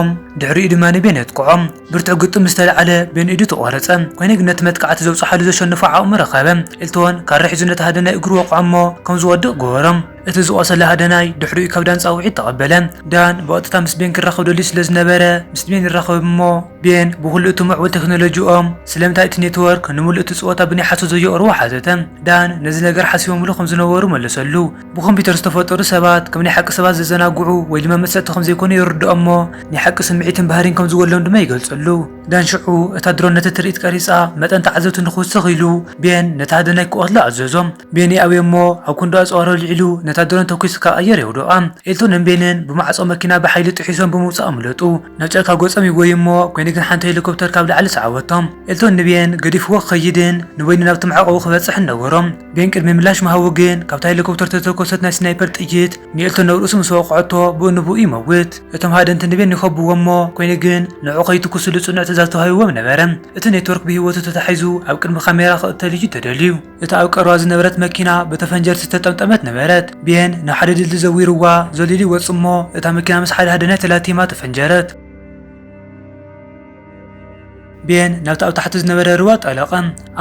ድሕሪኡ ድማ ንቤን የጥቅዖ። ብርቱዕ ግጥም ምስ ተላዕለ በይኑ ኢዱ ተቖረጸ። ኰይኑ ግን ነቲ መጥቃዕቲ ዘብጽሓሉ ዘሸንፎ ዓቕሚ ረኸበ። ኤልቶን ካራ ሒዙ ነቲ ሃደናይ እግሩ ወቕዖ እሞ ከም ዝወድቕ ገበሮ። እቲ ዝቖሰለ ሃደናይ ድሕሪኡ ካብ ዳን ጻውዒት ተቐበለ። ዳን ብቐጥታ ምስ ቤን ክራኸብ ደልዩ ስለ ዝነበረ ምስ ቤን ይራኸብ እሞ ቤን ብዅሉ እቲ ምዕቡል ተክኖሎጂኦም ስለምንታይ እቲ ኔትወርክ ንምሉእ እቲ ጸወታ ብናይ ሓሶት ዘየቕርቦ ሓተተ። ዳን ነዚ ነገር ሓሲቦምሉ ከም ዝነበሩ መለሰሉ። ብኮምፒተር ዝተፈጠሩ ሰባት ከም ናይ ሓቂ ሰባት ዘዘናግዑ ወይ ድማ መጸጽቲ ከም ዘይኮኑ የርድኦ እሞ ናይ ሓቂ ስምዒትን ባህሪን ከም ዝጎድሎም ድማ ይገልጸሉ። ዳን ሽዑ እታ ድሮን ነቲ ትርኢት ቀሪጻ መጠን ተዓዘብቲ ንኽውስኽ ኢሉ ቤን ነቲ ሃደናይ ክቐትሎ ኣዘዞ። ቤን ይኣብዮ እሞ ኣብ ክንዱ ኣጽዋሩ ኣልዒሉ ነታ ድሮን ተኲሱ ካብ ኣየር የውድቓ። ኤልቶንን ቤንን ብማዕጾ መኪና ብሓይሊ ጥሒሶም ብምውጻእ ኣምለጡ። ናብ ጫካ ገጾም ይጎዩ እሞ ኮይኑ ግን ሓንቲ ሄሊኮፕተር ካብ ላዕሊ ሰዓበቶም። ኤልቶን ንቤን ገዲፍዎ ክኸይድን ንበይኑ ናብቲ መዕቆቡ ክበጽሕን ነበሮ። ቤን ቅድሚ ምላሽ ምሃቡ ግን ካብታ ሄሊኮፕተር ዝተተኮሰት ናይ ስናይፐር ጥይት ንኤልቶን ናብ ርእሱ ምስ ወቕዐቶ ብኡ ንብኡ ይመውት። እቶም ሃደንቲ ንቤን ይኸብዎ እሞ ኮይኑ ግን ንዕኡ ከይትኩስሉ ጽኑዕ ትእዛዝ ተዋሂብዎም ነበረ። እቲ ኔትወርክ ብህይወቱ ተታሒዙ ኣብ ቅድሚ ካሜራ ክቕተል እዩ ተደልዩ። እታ ኣብ ቀረባ ዝነበረት መኪና ብተፈንጀርቲ ዝተጠምጠመት ነበረት። ቤን ንሓደ ድልድል ዘዊርዋ ዘሊሉ ይወጽእ እሞ እታ መኪና ምስ ሓድሃደነ ተላቲማ ተፈንጀረት። ቤን ናብቲ ኣብ ታሕቲ ዝነበረ ርባ ጠለቐ።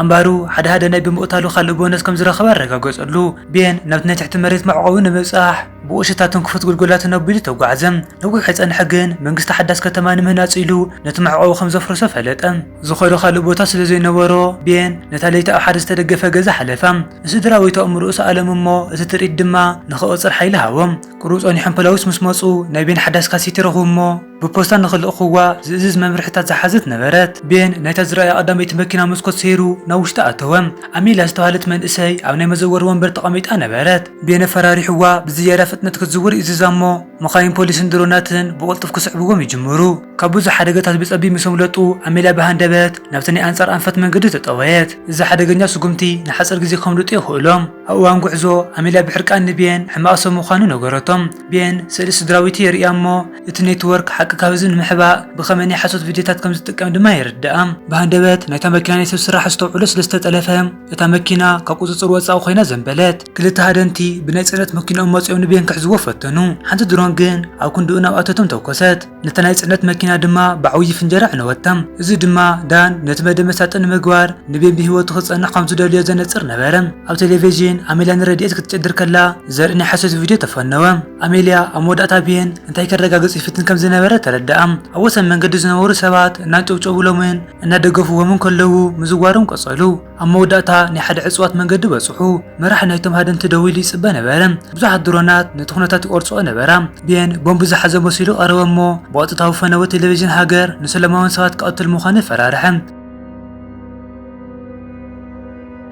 ኣምባሩ ሓድሃደነ ብምቕታሉ ካልእ ቦነስ ከም ዝረኸበ ኣረጋገጸሉ። ቤን ናብቲ ናይ ትሕቲ መሬት መዕቆቢ ንምብጻሕ፣ ብኡሸታ ትንክፉት ጉልጉላትን ኣቢሉ ተጓዕዘ። ነዊሕ ኣይጸንሐ ግን፣ መንግስቲ ሓዳስ ከተማ ንምህናጽ ኢሉ ነቲ መዕቆቢ ከም ዘፍርሶ ፈለጠ። ዝኸዶ ካልእ ቦታ ስለ ዘይነበሮ፣ ቤን ነታ ለይቲ ኣብ ሓደ ዝተደገፈ ገዛ ሓለፋ። ንስድራቤቱ ኣእምሮኡ ሰኣሎም እሞ እቲ ትርኢት ድማ ንኽቕጽል ሓይሊ ሃቦ። ቁሩብ ጸኒሖም ፖላዊስ ምስ መጹ፣ ናይ ቤን ሓዳስ ካሴት ይረኽቡ እሞ፣ ብፖስታ ንኽልእኹዋ ዝእዝዝ መምርሒታት ዝሓዘት ነበረት። ቤን ናይታ ዝረኣያ ቀዳመይቲ መኪና መስኮት ሰይሩ ናብ ውሽጢ ኣተወ። ኣሚልያ ዝተባህለት መንእሰይ ኣብ ናይ መዘወሪ ወንበር ተቐሚጣ ነበረት። ቤን ኣፈራሪሑዋ ብዝያዳ ፍጥነት ክትዝውር ይእዝዛ እሞ መኻይን ፖሊስን ድሮናትን ብቕልጡፍ ክስዕብዎም ይጅምሩ። ካብ ብዙሕ ሓደጋታት ብጸቢብ ምስ ኣምለጡ ኣሚልያ ብሃንደበት ናብቲ ናይ ኣንጻር ኣንፈት መንገዲ ተጠወየት። እዚ ሓደገኛ ስጉምቲ ንሓጺር ግዜ ከምልጡ የኽእሎም። ኣብ እዋን ጉዕዞ ኣሚልያ ብሕርቃን ንቤን ሕማቕ ሰብ ምዃኑ ነገረቶ። ቤን ስእሊ ስድራቤቱ የርእያ እሞ እቲ ኔትወርክ ሓቂ ካብዚ ንምሕባእ ብኸመይ ናይ ሓሶት ቪድዮታት ከም ዝጥቀም ድማ የረድኣ። ብሃንደበት ናይታ መኪና ናይ ሰብ ስራሕ ኣስተውዕሎ ስለ ዝተጠለፈ፣ እታ መኪና ካብ ቁጽጽር ወጻኢ ኮይና ዘንበለት። ክልተ ሃደንቲ ብናይ ጽዕነት መኪንኦም መጺኦም ንቤን ክሕዝዎ ፈተኑ፣ ሓንቲ ድሮን ግን ኣብ ክንድኡ ናብ ኣተቶም ተኮሰት፣ ነታ ናይ ጽዕነት መኪና ድማ ብዓውዪ ፍንጀራ ኣዕነወታ። እዚ ድማ ዳን ነቲ መደብ መሳጢ ንምግባር ንቤን ብህይወቱ ክጸንሕ ከም ዝደልዮ ዘነጽር ነበረ። ኣብ ቴሌቪዥን ኣሜልያ ንረድኤት ክትጭድር ከላ ዘርኢ ናይ ሓሶት ቪድዮ ተፈነወ። ኣሜልያ ኣብ መወዳእታ ብየን እንታይ ከረጋግጽ ይፍትን ከም ዝነበረ ተረድኣ። ኣብ ወሰን መንገዲ ዝነበሩ ሰባት እናንጨብጨቡሎምን እናደገፍዎምን ከለዉ ምዝዋሮም ቀጸሉ። ኣብ መወዳእታ ናይ ሓደ ዕጽዋት መንገዲ በጽሑ። መራሒ ናይቶም ሃደንቲ ደው ኢሉ ይጽበ ነበረ። ብዙሓት ድሮናት ነቲ ኩነታት ይቆርጽኦ ነበራ። ብየን ቦምብ ዝሓዘ መሲሉ ቀረበ እሞ ብቐጥታዊ ፈነወ ቴሌቪዥን ሃገር ንሰለማውያን ሰባት ክቐትል ምዃኑ ፈራርሐ።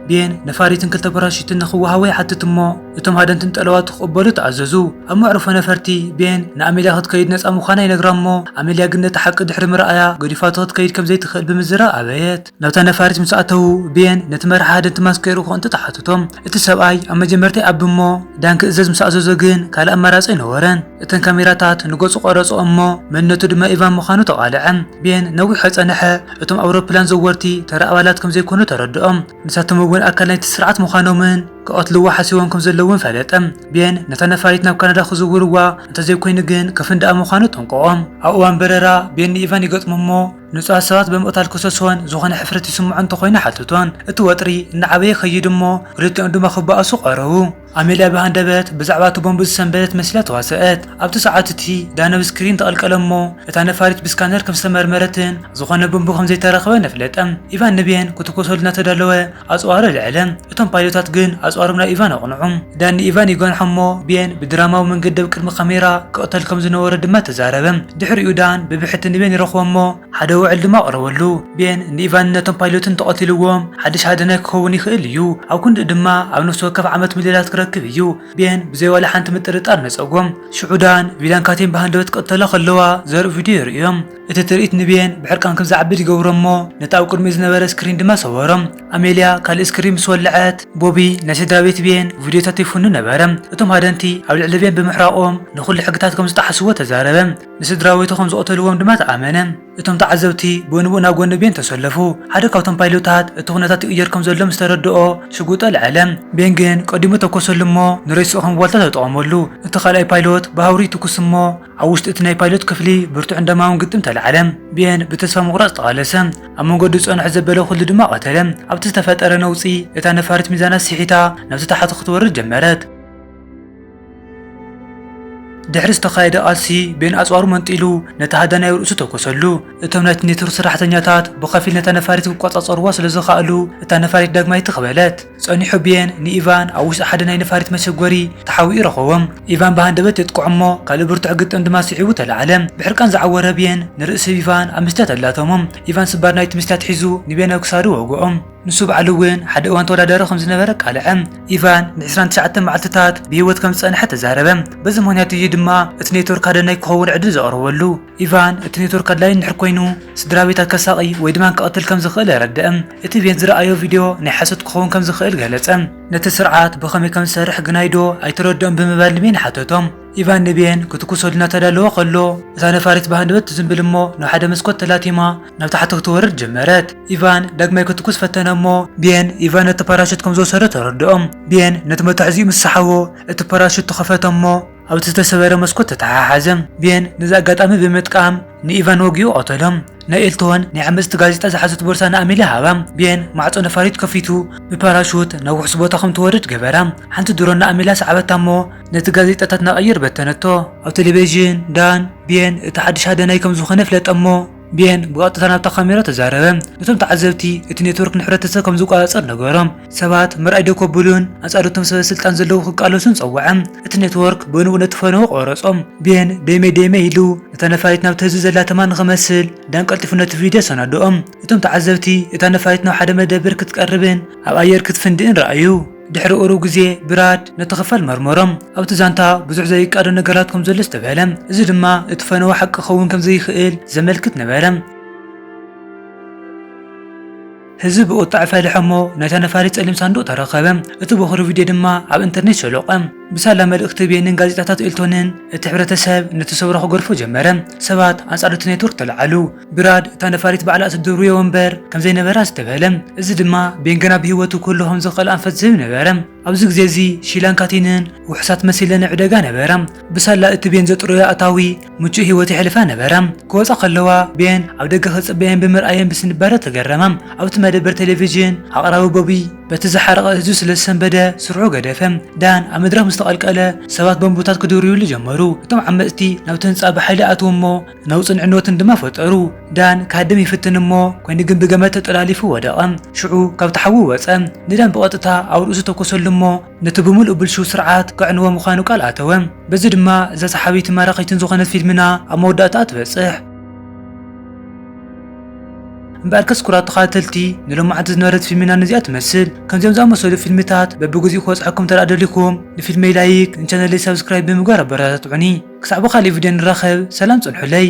ብየን ነፋሪትን ክልተ ፓራሹትን ንኽወሃቦ ይሓትት እሞ እቶም ሃደንትን ጠለባቱ ክቕበሉ ተኣዘዙ። ኣብ መዕርፎ ነፈርቲ፣ ብየን ንኣሜልያ ክትከይድ ነጻ ምዃና ይነግራ እሞ ኣሜልያ ግን ነቲ ሓቂ ድሕሪ ምርኣያ ገዲፋቶ ክትከይድ ከም ዘይትኽእል ብምዝራብ ኣበየት። ናብታ ነፋሪት ምስ ኣተዉ፣ ብየን ነቲ መራሒ ሃደንቲ ማስክ ከይርኡ ክቕንጥጡ ሓተቶም። እቲ ሰብኣይ ኣብ መጀመርታ ይኣቢ እሞ ዳን ክእዘዝ ምስ ኣዘዞ ግን ካልእ ኣማራጺ ኣይነበሮን። እተን ካሜራታት ንገጹ ቐረጾ እሞ መንነቱ ድማ ኢቫን ምዃኑ ተቓልዐ። ቤን ነዊሕ ኣይጸንሐ እቶም ኣውሮፕላን ዘወርቲ ተራ ኣባላት ከም ዘይኮኑ ተረድኦም። ንሳቶም እውን ኣካል ናይቲ ስርዓት ምዃኖምን ክቐትልዎ ሓሲቦም ከም ዘለዉን ፈለጠ። ቤን ነታ ነፋሪት ናብ ካናዳ ክዝውርዋ እንተ ዘይኮይኑ ግን ከፍንድኣ ምዃኑ ኣጠንቀቖ። ኣብ እዋን በረራ ቤን ንኢቫን ይገጥሞ እሞ ንጹሃት ሰባት ብምቕታል ክሰሶን ዝኾነ ሕፍረት ይስምዖ እንተ ኾይኑ ሓትቶን። እቲ ወጥሪ እናዓበየ ይኸይድ እሞ ክልቲኦም ድማ ክበኣሱ ቐረቡ። ኣሜልያ ብሃንደበት ብዛዕባ እቲ ቦምብ ዝሰንበደት መሲላ ተዋስኣት። ኣብቲ ሰዓት እቲ፣ ዳነብ ስክሪን ተቐልቀለ እሞ እታ ነፋሪት ብስካነር ከም ዝተመርመረትን ዝኾነ ቦምብ ከም ዘይተረኽበን ኣፍለጠ። ኢቫን ንቤን ክትኩሰሉ እናተዳለወ ኣጽዋሩ ኣልዐለ። እቶም ፓይሎታት ግን ኣጽዋሮም ናብ ኢቫን ኣቕንዑ። ዳን ንኢቫን ይጓንሖ እሞ ቤን ብድራማዊ መንገዲ ኣብ ቅድሚ ካሜራ ክቕተል ከም ዝነበሮ ድማ ተዛረበ። ድሕሪኡ ዳን ብብሕቲ ንቤን ይረኽቦ እሞ፣ ሓደ ውዕል ድማ ኣቕረበሉ። ቤን ንኢቫንን ነቶም ፓይሎትን እንተቐቲልዎም ሓድሽ ሃደናይ ክኸውን ይኽእል እዩ፣ ኣብ ክንድኡ ድማ ኣብ ነፍሲ ወከፍ ዓመት ሚልዮናት ክረክብ እዩ። ቤን ብዘይ ዋላ ሓንቲ ምጥርጣር ነጸጎም። ሽዑ ዳን፣ ቪላን ካቲን ብሃንደበት ክቕተላ ከለዋ ዘርኢ ቪድዮ የርእዮም። እቲ ትርኢት ንቤን ብሕርቃን ከም ዝዓብድ ይገብሮ እሞ ነቲ ኣብ ቅድሚኡ ዝነበረ ስክሪን ድማ ሰበሮ። ኣሜልያ ካልእ ስክሪን ምስ ወለዐት፣ ቦቢ ናይ ስድራቤት ቤን ቪድዮታት ይፍኑ ነበረ። እቶም ሃደንቲ ኣብ ልዕሊ ቤን ብምሕራቖም ንኹሉ ሕግታት ከም ዝጠሓስዎ ተዛረበ። ንስድራቤቱ ከም ዝቐተልዎም ድማ ተኣመነ። እቶም ተዓዘብቲ ብኡንብኡ ናብ ጎኒ ቤን ተሰለፉ። ሓደ ካብቶም ፓይሎታት እቲ ኵነታት ይቕየር ከም ዘሎ ምስ ተረድኦ ሽጉጥ ኣልዓለ። ቤን ግን ቀዲሙ ተኰሰሉ እሞ ንሬስኡ ከም ዋልታ ተጠቐመሉ። እቲ ካልኣይ ፓይሎት ብሃውሪ ይትኵስ እሞ ኣብ ውሽጢ እቲ ናይ ፓይሎት ክፍሊ ብርቱዕን ደማውን ግጥም ተላዕለ። ቤን ብተስፋ ምቝራጽ ተቓለሰ፣ ኣብ መንገዱ ዝጸንሖ ዘበለ ኵሉ ድማ ቀተለ። ኣብቲ ዝተፈጠረ ነውጺ እታ ነፋሪት ሚዛና ስሒታ ናብቲ ታሕቲ ክትወርድ ጀመረት። ድሕሪ ዝተኻየደ ቃልሲ ቤን ኣጽዋሩ መንጢሉ ነቲ ሃዳናይ ርእሱ ተኮሰሉ። እቶም ናይቲ ኔትወርክ ሰራሕተኛታት ብኸፊል ነታ ነፋሪት ክቆጻጸርዋ ስለ ዝኸኣሉ እታ ነፋሪት ዳግማይ ትኽ በለት። ጸኒሑ ቤን ንኢቫን ኣብ ውሽጢ ሓደ ናይ ነፋሪት መሸጎሪ ተሓቢኡ ረኸቦም። ኢቫን ብሃንደበት የጥቅዖ እሞ ካልእ ብርቱዕ ግጥም ድማ ስዒቡ ተላዕለ። ብሕርቃን ዝዓወረ ቤን ንርእሲ ኢቫን ኣብ መስትያት ኣላተሞም። ኢቫን ስባር ናይቲ መስትያት ሒዙ ንቤን ኣብ ክሳዱ ወግኦም። ንሱ ባዕሉ እውን ሓደ እዋን ተወዳዳሪ ከም ዝነበረ ኣቃልዐ። ኢቫን ንዕስራን ትሽዓተን መዓልትታት ብህይወት ከም ዝጸንሐ ተዛረበ። በዚ ምኽንያት እዩ ድማ እቲ ኔትወርክ ሃደናይ ክኸውን ዕድል ዘቕረበሉ። ኢቫን እቲ ኔትወርክ ኣድላዪ እንድሕር ኰይኑ ስድራቤታት ከሳቒ ወይ ድማ ክቐትል ከም ዝኽእል ኣረድኣ። እቲ ቤን ዝረኣዮ ቪድዮ ናይ ሓሶት ክኸውን ከም ዝኽእል ገለጸ። ነቲ ስርዓት ብኸመይ ከም ዝሰርሕ ግናይዶ ኣይተረድኦን ብምባል ንቤን ሓተቶ። ኢቫን ንቤን ክትኩስ ወዲን እናተዳለወ ከሎ፣ እታ ነፋሪት ብሃንደበት ትዝምብል እሞ ናብ ሓደ መስኮት ተላቲማ ናብ ታሕቲ ክትወርድ ጀመረት። ኢቫን ዳግማይ ክትኩስ ፈተነ እሞ፣ ቤን ኢቫን ነቲ ፓራሹት ከም ዝወሰዶ ተረድኦም። ቤን ነቲ መታሕዚኡ ምስ ሰሓቦ እቲ ፓራሹት ተኸፈተ እሞ ኣብቲ ዝተሰበረ መስኮት ተተሓሓዘ። ቤን ነዚ ኣጋጣሚ ብምጥቃም ንኢቫን ወጊኡ ቀተሎ። ናይ ኤልቶን ናይ ዓመጽቲ ጋዜጣ ዝሓዘት ቦርሳ ንኣሜልያ ሃባ። ቤን ማዕጾ ነፋሪት ከፊቱ ብፓራሹት ናብ ውሑስ ቦታ ከም ትወርድ ገበራ። ሓንቲ ድሮን ንኣሜልያ ሰዓበታ እሞ፣ ነቲ ጋዜጣታት ናቐይር በተነቶ። ኣብ ተለቪዥን፣ ዳን፣ ቤን እቲ ሓድሽ ሃዳናይ ከም ዝዀነ ኣፍለጠ እሞ፣ ቤን ብቐጥታ ናብታ ካሜራ ተዛረበ። ነቶም ተዓዘብቲ እቲ ኔትወርክ ንሕብረተሰብ ከም ዝቈጻጸር ነገሮም። ሰባት ምርኣይ ደው ከብሉን ኣንጻር እቶም ሰበስልጣን ዘለዉ ክቃለሱን ጸውዐ። እቲ ኔትወርክ ብንኡ ነቲ ፈነወ ቈረጾ። ቤን ደይመይ ደይመይ ኢሉ ነታ ነፋሪት ናብቲ ህዝቢ ዘላ ተማ ንኽመስል፣ ዳን ቀልጢፉ ነቲ ቪድዮ ኣሰናድኦ። እቶም ተዓዘብቲ እታ ነፋሪት ናብ ሓደ መደበር ክትቀርብን ኣብ ኣየር ክትፍንድእን ረኣዩ። ድሕሪ ቁሩብ ግዜ ብራድ ነቲ ክፋል መርመሮ። ኣብቲ ዛንታ ብዙሕ ዘይቃዶ ነገራት ከም ዘሎ ኣስተብሀለ፣ እዚ ድማ እቲ ፈነወ ሓቂ ክኸውን ከም ዘይክእል ዘመልክት ነበረ። ህዝቢ ብቑጥዐ ፈለሐ እሞ ነታ ነፋሪት ጸሊም ሳንዱቕ ተረከበ፣ እቲ ቦኽሪ ቪድዮ ድማ ኣብ እንተርኔት ሸሎቐ። ብሳላ መልእኽቲ ቤንን ጋዜጣታት ኤልቶንን፣ እቲ ሕብረተሰብ ነቲ ሰውራ ክገድፎ ጀመረ፣ ሰባት ኣንጻር እቲ ኔትወርክ ተለዓሉ። ብራድ እታ ነፋሪት ባዕላ እትድርብዮ ወንበር ከም ዘይነበራ ኣስተብሀለ። እዚ ድማ ቤን ገና ብህይወቱ ከሎ ከም ዝኽእል ኣንፈት ዝህብ ነበረ። ኣብዚ ግዜ እዚ ሺላን ካቲንን ውሑሳት መሲለን ኣብ ዕደጋ ነበራ። ብሳላ እቲ ቤን ዘጥረዮ ኣታዊ ምቹእ ህይወት የሕልፋ ነበራ። ክወጻ ከለዋ ቤን ኣብ ደገ ክጽበየን ብምርኣየን ብስንባደ ተገረማ። ኣብቲ መደበር ቴሌቪዥን ኣቕራቢ ቦቢ በቲ ዝሓረቐ ህዝቢ ስለ ዝሰንበደ ስርሑ ገደፈ። ዳን ኣብ መድረኽ ምስ ተቐልቀለ ሰባት ቦምብታት ክድርብዩሉ ጀመሩ። እቶም ዓመጽቲ ናብቲ ህንጻ ብሓይሊ ኣትዉ እሞ ነውጽን ዕንወትን ድማ ፈጠሩ። ዳን ክሃድም ይፍትን እሞ ኮይኑ ግን ብገመድ ተጠላሊፉ ወደቐ። ሽዑ ካብቲ ሓዊ ወጸ። ንዳን ብቐጥታ ኣብ ርእሱ ተኮሰሉ እሞ ነቲ ብምሉኡ ብልሽው ስርዓት ከዕንዎ ምዃኑ ቃል ኣተወ። በዚ ድማ እዛ ሰሓቢትን ማራኺትን ዝኾነት ፊልምና ኣብ መወዳእታኣ ትበጽሕ። እምበኣርከስ ኩራት ተኸታተልቲ ንሎማዕንቲ ዝነበረት ፊልምና ነዚኣ ትመስል። ከምዚኦም ዝኣመሰሉ ፊልምታት በብግዚኡ ክበጽሓኩም እንተደኣ ደሊኹም ንፊልመይ ላይክ ንቻነለይ ሳብስክራይብ ብምግባር ኣበረታትዑኒ። ክሳዕ ብኻልእ ቪድዮ ንራኸብ ሰላም ጽንሑለይ።